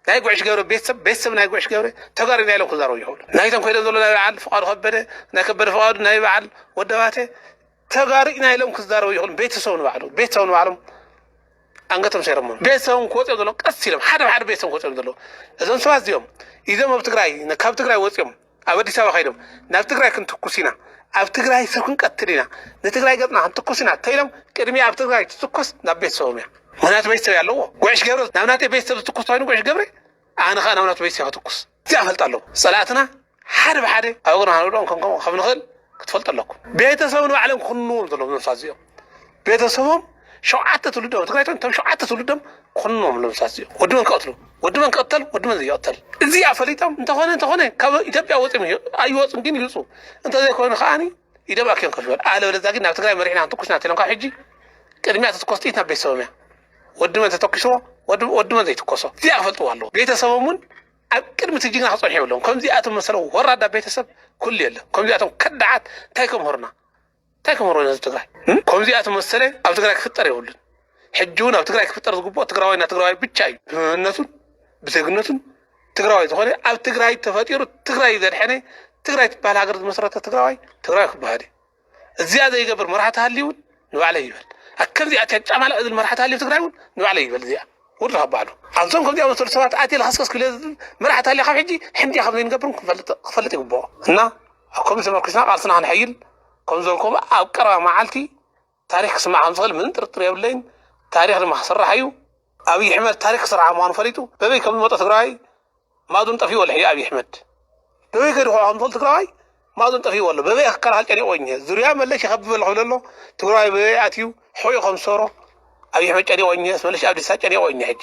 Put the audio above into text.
ናይ ጉዕሽ ገብረ ቤተሰብ ቤተሰብ ናይ ጉዕሽ ገብረ ተጋሩ ኢና ኢሎም ክዛረቡ ይኽእሉ ናይቶም ከይዶም ዘሎ ናይ በዓል ፍቃዱ ከበደ ናይ ከበደ ፍቃዱ ናይ በዓል ወደባቴ ተጋሩ ኢና ኢሎም ክዛረቡ ይኽእሉ ቤተሰብ ንባዕሉ ቤተሰብ ንባዕሎም ኣንገቶም ሰይሮሞ ቤተሰቦም ክወፅኦም ዘለዎም ቀስ ኢሎም ሓደ ብሓደ ቤተሰቦም ክወፅኦም ዘለዎም እዞም ሰባት እዚኦም ኢዞም ኣብ ትግራይ ካብ ትግራይ ወፅኦም ኣብ ኣዲስ ኣበባ ከይዶም ናብ ትግራይ ክንትኩስ ኢና፣ ኣብ ትግራይ ሰብ ክንቀትል ኢና፣ ንትግራይ ገጽና ክንትኩስ ኢና ተኢሎም ቅድሚያ ኣብ ትግራይ ትትኮስ ናብ ቤተሰቦም እያ። ምክንያቱ ቤተሰብ እያ ኣለዎ። ጉዕሽ ገብረ ናብ ናተይ ቤተሰብ ዝትኩስ ተኮይኑ ጉዕሽ ገብረ ኣነ ከዓ ናብ ናቱ ቤተሰብ ክትኩስ እዚኣ ፈልጣ ኣለዎ። ጸላእትና ሓደ ብሓደ ኣብ እግርና ክንውድቆም ከም ከምኡ ከም ንኽእል ክትፈልጡ ኣለኩም። ቤተሰብ ንባዕሎም ክኹንንዎም ዘለዎም ነብሳት እዚኦም። ቤተሰቦም ሸውዓተ ትውልዶ ትግራይ እቶም ሸውዓተ ትውልዶም ኮኖም ለምሳት እዩ ወዲ መን ክቐትሉ ወዲ መን ክቐተል ወዲ መን ዘይቐተል እዚኣ ፈሊጦም እንተኾነ እንተኾነ ካብ ኢትዮጵያ ወፂኦም እዩ- ኣይወፁን ግን ይውፁ እንተዘይኮይኑ ከዓኒ ኢዶም ኣክዮም ከፍ ይበል ኣለበለዚያ ግን ናብ ትግራይ መሪሕና ትኩስና ተሎም ካብ ሕጂ ቅድሚያ ተትኮስ ጥይት ናብ ቤተሰቦም እያ ወዲ መን ተተኪስዎ ወዲ ወዲ መን ዘይትኮሶ እዚኣ ክፈልጥዎ ኣለዎ ቤተሰቦም እውን ኣብ ቅድሚ እቲ ጅግና ክፀንሑ የብሎም ከምዚኣቶም መሰለ ወራዳ ቤተሰብ ኩሉ የለን ከምዚኣቶም ከዳዓት እንታይ ከምህሩና እንታይ ክመሮ ንህዝቢ ትግራይ ከምዚኣ ትመሰለ ኣብ ትግራይ ክፍጠር የብሉን ሕጂ እውን ኣብ ትግራይ ክፍጠር ዝግብኦ ትግራዋይ ና ትግራዋይ ብቻ እዩ ብመንነቱን ብዜግነቱን ትግራዋይ ዝኾነ ኣብ ትግራይ ተፈጢሩ ትግራይ ዘድሐነ ትግራይ ትበሃል ሃገር ዝመሰረተ ትግራዋይ ትግራዋይ ክበሃል እዩ እዚኣ ዘይገብር መራሕቲ ሃልዩ እውን ንባዕለይ ይበል ከምዚኣ ጨጫማላ እዝል መራሕቲ ሃልዩ ትግራይ እውን ንባዕለይ ይበል እዚኣ ውርድ ካብ ባዕሉ ኣብዞም ከምዚኣ መሰሉ ሰባት ኣትየ ልኸስከስ ክለ መራሕቲ ሃልያ ካብ ሕጂ ሕምድያ ከም ዘይንገብርም ክፈልጥ ይግብኦ እና ኣብ ከምዚ ተመርኲስና ቃልስና ከነሐይል ከም ዝበልክዎ ኣብ ቀረባ መዓልቲ ታሪኽ ክስማዕ ከም ዝኽእል ምንም ጥርጥር የብለይን። ታሪኽ ድማ ክስራሕ እዩ። ኣብይ ኣሕመድ ታሪክ ክስርሓ ምዃኑ ፈሊጡ በበይ ከም ዝመጦ ትግራዋይ ማዱን ጠፊእዎ ኣሎ ሕጂ ኣብይ ኣሕመድ በበይ ከይዱ ክውዖ ከም ዝኽእል ትግራዋይ ማዱን ጠፊእዎ ኣሎ በበይ ክከላኸል ጨኒቕዎ እኘ ዙርያ መለሽ ይኸብብ ኣለኹ ይብሎ ኣሎ ትግራዋይ በበይ ኣትዩ ሕቖኡ ከም ዝሰብሮ ኣብይ ኣሕመድ ጨኒቕዎ እኘ መልሽ ኣብዲሳ ጨኒቕዎ እኘ ሕጂ